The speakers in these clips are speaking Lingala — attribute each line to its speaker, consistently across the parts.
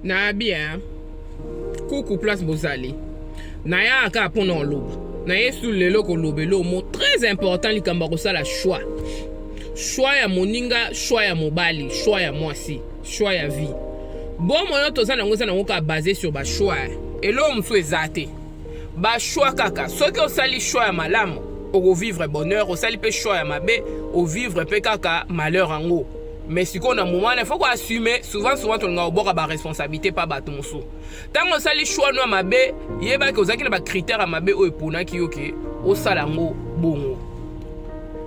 Speaker 1: na bien kuku place bozali nayaka kaka mpo na oloba na yesu lelo koloba elomo très important likambo ya kosala choix choix ya moninga choix ya mobali choix ya mwasi choix ya vie bomo oyo toza nango eza nango kaka base sur bachoix eloko mosusu eza te bachoix kaka soki osali choix ya malamu okovivre bonheur osali mpe choix ya mabe ovivre mpe kaka malheur yango mais sikoyo na moment wana faut ko assumer souvent souvent tolingaka kobwaka ba responsabilité mpa bato mosusu ntango osali choix no ya mabe yebaki ozalaki na bacritère ya mabe oyo eponaki yo ke osala yango bongo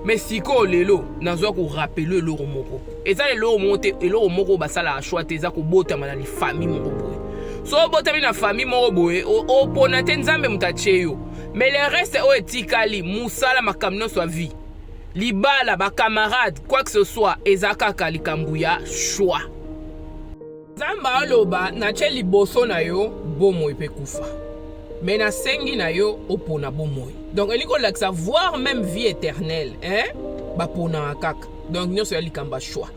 Speaker 1: mais sikoyo lelo nazwa korapele eloko moko eza eloko moko te eloko moko oyo basalaka choix te eza kobotama na lifamille moko boye so obotami na famille moko boye opona te nzambe moto atye yo mais le reste oyo etikali mosala makambo nyonso ya vie Libala, ba camarades, quoi que ce soit, eza kaka likambo ya choix. Nzambe aloba natye liboso na yo bomoi mpe kufa, me nasengi na yo opona bomoi. Donc elingi kolakisa voir meme vie éternelle, eh? baponaka kaka donc nyonso ya likambo ya choix.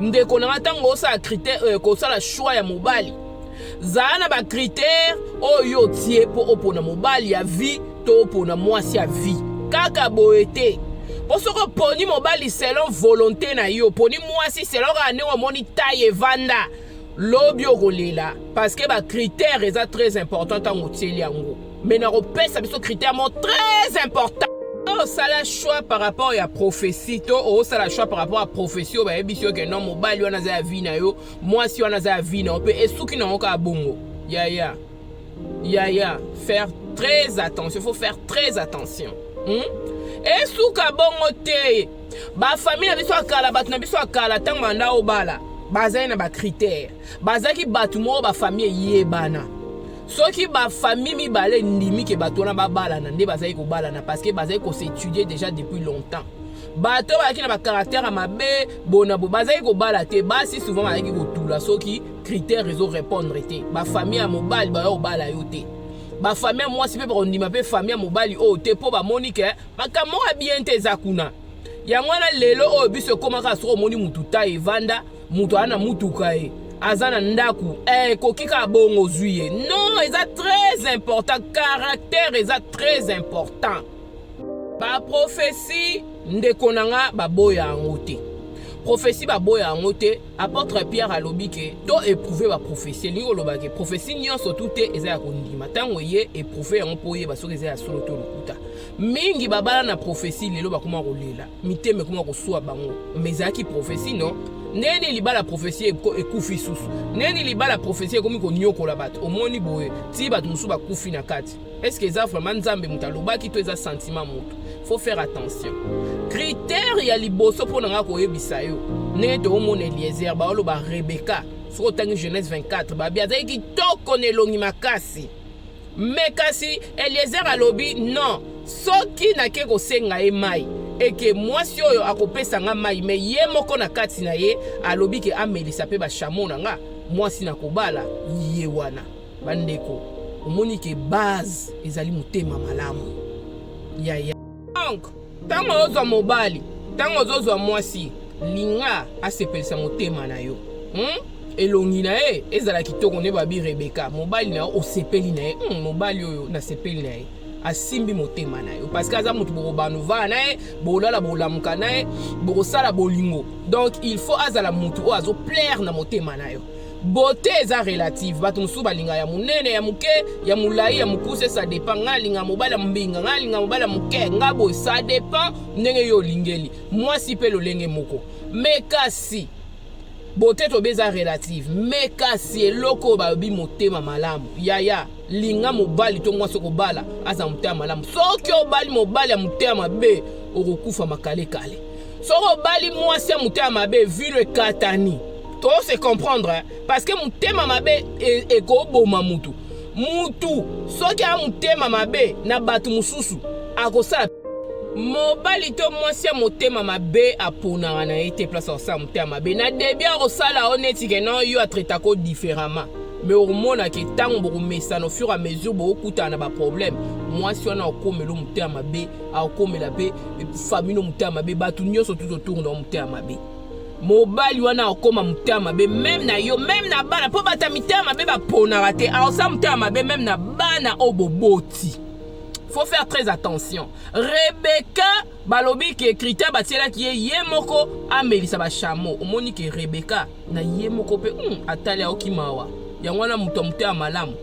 Speaker 1: ndeko na nga ntango osala critère euh, kosala choix ya mobali zala na bacritère oyo otie mpo opona mobali ya vie to opona mwasi ya vie kaka boye te mpo soki oponi mobali selon volonté na yo oponi mwasi selon kaka ndenge omoni tai evanda lobi okolela parceke bacritère eza très important ntango otieli yango mais nakopesa biso critère moko très important osala choix par rapport ya prophétie to osala choix par rapport ya prophétie oyo bayebisi yo ke non mobali wana aza ya vie na yo mwasi wana aza ya vie na yo mpe esuki na yango kaka bongo yaya yaya faire très attention faut faire très attention hmm? esuka bongo te bafamille na biso ya kala bato na biso ya kala ntango banda obala bazali na bacritère bazalaki bato moko bafamille eyebana soki bafamille mibale endimi ke bato wana babalana nde bazali kobalana parce que bazali kosetudier déjà depuis longtemps bato bazalaki na bacaractère ya mabe bona bo bazalaki kobala te basi souvent bazalaki kotula soki critère ezo répondre te bafamille ya mobali baza kobala yo te bafamille ya mwasi mpe bakondima mpe famille ya mobali oyo te mpo bamoni ke makambo moko ya bien te eza kuna yango wana lelo oyo biso ekomaka soki omoni motu ta evanda moto aza na motuka ye aza na ndako eh, ekoki kaka bongo ozwi ye non eza très important caractère eza très important baprofesi ndeko na nga baboya yango te profesi baboya yango te apôtre pierre alobi ke to eprouve baprofesi elingi koloba ke profesi nyonso tu te eza ya kondima ntango eye eprouve yango mpo oyeba soki eza ya solo to lokuta mingi babala na profesi lelo bakoma kolela mitema ekoma kosua bango ma ezalaki profesi no ndenge nini libala profesi ekufi susu ndenge nini libala profesi ekomi konyokola bato omoni boye tii bato mosusu bakufi na kati eske eza vraiment nzambe moto alobaki to eza sentiment moto faut faire attention kritere ya liboso mpo na ngai koyebisa yo ndenge toomona eliezer baoloba rebeka soki otangi genèse 24 babi azalaki kitoko na elongi makasi me kasi eliezer alobi non soki nake kosenga ye mai eke mwasi oyo akopesa nga mai me ye moko na kati na ye alobi ke amelisa mpe bashamo na nga mwasi na kobala ye wana bandeko omoni ke base ezali motema malamu yaya Donc, ntango ozwa mobali, ntango ozozwa mwasi, linga asepelisa motema na yo. Hmm? elongi na ye ezala kitoko nde babi rebeka mobali na yo osepeli na ye hmm, mobali oyo nasepeli na ye asimbi motema na yo parce que aza moto bokobanovaa na ye bokolala bokolamuka na ye bokosala bolingo donc il faut azala moto oyo azoplaire na motema na yo Beauté eza relative. Batu mosusu balinga ya munene, ya muke, ya mulayi, ya mukuse, ça dépend. Nga linga mobala mbinga, nga linga mobala muke, nga boy, ça dépend ndenge yo olingeli. Mwasi pe lolenge moko. Mais kasi beauté to beza relative. Mais kasi eloko ba bi motema malamu. Yaya, linga mobali to mwasi okobala aza motema malamu. Soki obali mobali ya motema mabe, okokufa makale kale. soki obali mwasi ya motema mabe vilo ekatani to se comprendre hein? parce que motema mabe e, ekoboma mutu mutu soki aya motema mabe na bato mosusu akosala mobali to mwasi ya motema mabe aponaka na ye te place akosala motema mabe na debi akosala yo neti ke non yo atretako différemment me okomonake ntango bokomesana au fur à mesure bokokutana na baproblème mwasi wana okomelo motema mabe akokomela mpe famino motema mabe bato nyonso tuto tour na motema mabe mobali wana akoma motema mabe meme na yo meme na bana mpo bata mitema mabe baponaka te aosa motema mabe meme na bana oyo boboti faut faire très attention rebeka balobi ke krita batielaki ye ye moko amelisa bashamo omoni ke rebeka na ye moko mpe hmm, atali aoki mawa yango wana moto ya motema malamu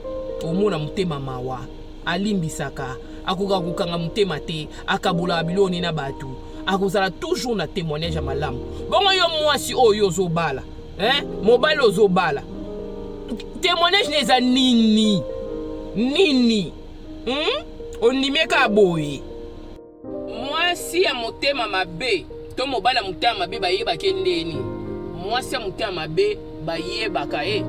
Speaker 1: omona motema mawa Alimbisaka, akokaka kokanga motema te, akabolaka biloko ne na bato, akozala toujours na temoignage ya malamu. Bongo yo mwasi oyo yo ozobala, eh, mobali ozobala, temoignage na eza nini nini? Hmm? ondimi eka boye Mwasi ya motema mabe to mobali ya motema mabe bayebaka ndeni. Mwasi ya motema mabe bayebaka ye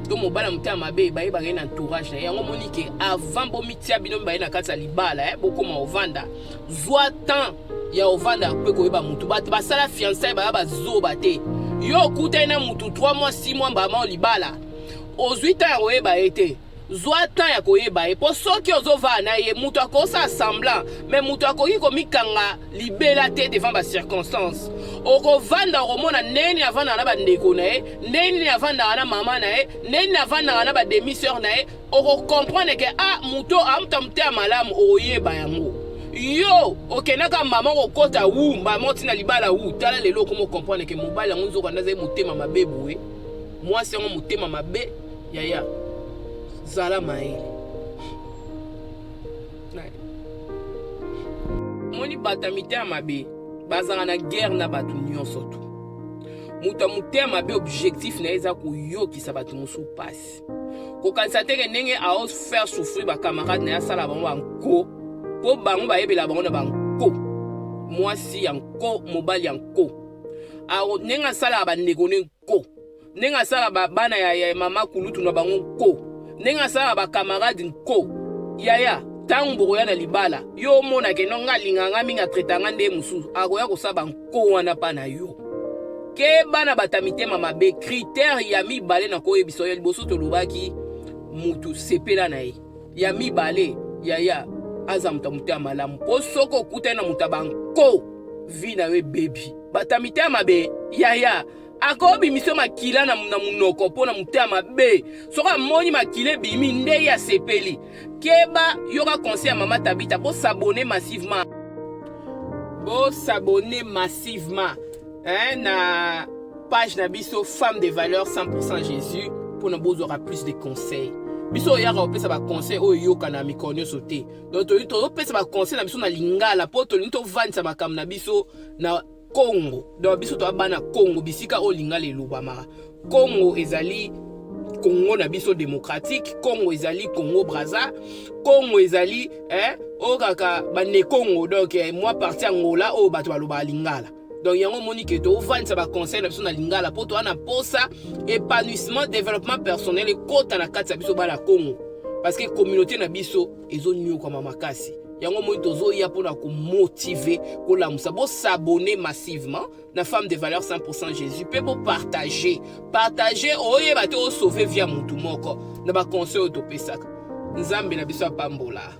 Speaker 1: to mobali ya motema mabe bayebaka ye na entourage na ye. Yango omoni ke avant bomitia bino mibale na kati ya libala eh, bokoma ovanda, zwa temps ya ovanda mpe koyeba motu. Bato basala fiançailles baya bazoba te. Yo okutani na motu 3 mois 6 mois mbala mao libala, ozwi temps ya koyeba ye te. zwa temps ya koyeba ye mpo soki ozovaa na ye moto akosala semblant me moto akoki komikanga libela te devant bacirconstance okovanda okomona ndenge nini avandaka na bandeko na ye ndenge nini avandaka na mama na ye ndenge nini avandaka na bademiseur na ye okokomprendre ke a ah, moto amuta mote ya malamu okoyeba yango yo okendaka mama okokota wu mama otina libala wu tala lelo okomi okomprendre ke mobali yango nzoka nde azali motema mabe boye mwasi yango motema mabe Yaya, zala mayele. Moni bata mitema mabe bazanga na guerre na bato nyonso tu moto ya motema mabe objectif na ye eza koyokisa bato mosusu mpasi kokanisa te ke ndenge ao faire souffrir bacamarade na ye asala bango banko mpo bango bayebela bango na banko mwasi ya nko mobali ya nko ndenge asalaka bandeko ne ko ndenge asala ba bana ya, ya mama kulutu na bango nko ndenge asala ba camarade nko yaya ntango bokoya na libala yo omona ke no nga alinga nga mingi atreta nga nde mosusu akoya kosala banko wana mpa na yo keba na bata mitema mabe kritere ya mibale na koyebisa yo ya liboso tolobaki motu sepela na ye ya mibale yaya aza moto ya motema malamu mpo soki okutani na moto ya banko vi na yo ebebi bato ya mitema mabe yaya akobimisa makila na monoko mpo na motema mabe soki amoni makila ebimi nde ye asepeli keba yoka conseil ya mama tabita bosabone massivement bosabone massivement eh, na page na biso femme de valeur 100% jésus mpo na bozwaka plus de conseil biso oyaka kopesa baconseil oyo eyokana mikolo nyonso te donc tolingi tozopesa baconseil na biso na lingala mpo tolingi tovandisa makambo na biso na kongo donc biso toya bana kongo bisika oyo lingala elobamaka kongo ezali kongo na biso demokratike kongo ezali kongo braza kongo ezali eh, oyo kaka banekongo donc eh, mwa parti angola oyo bato balobaka lingala donc yango omoni ke tovandisa baconseil na biso na lingala mpo toa na mposa épanouissement développement personnel ekota na kati ya biso bana congo parce que communauté na biso ezonyokwama makasi yango omoni tozoya mpo na komotive kolamusa bosabone massivement na femme de valeur 100 jésus mpe bopartage partage oyeba te osauve via motu moko na baconseil oyo topesaka nzambe na biso apambola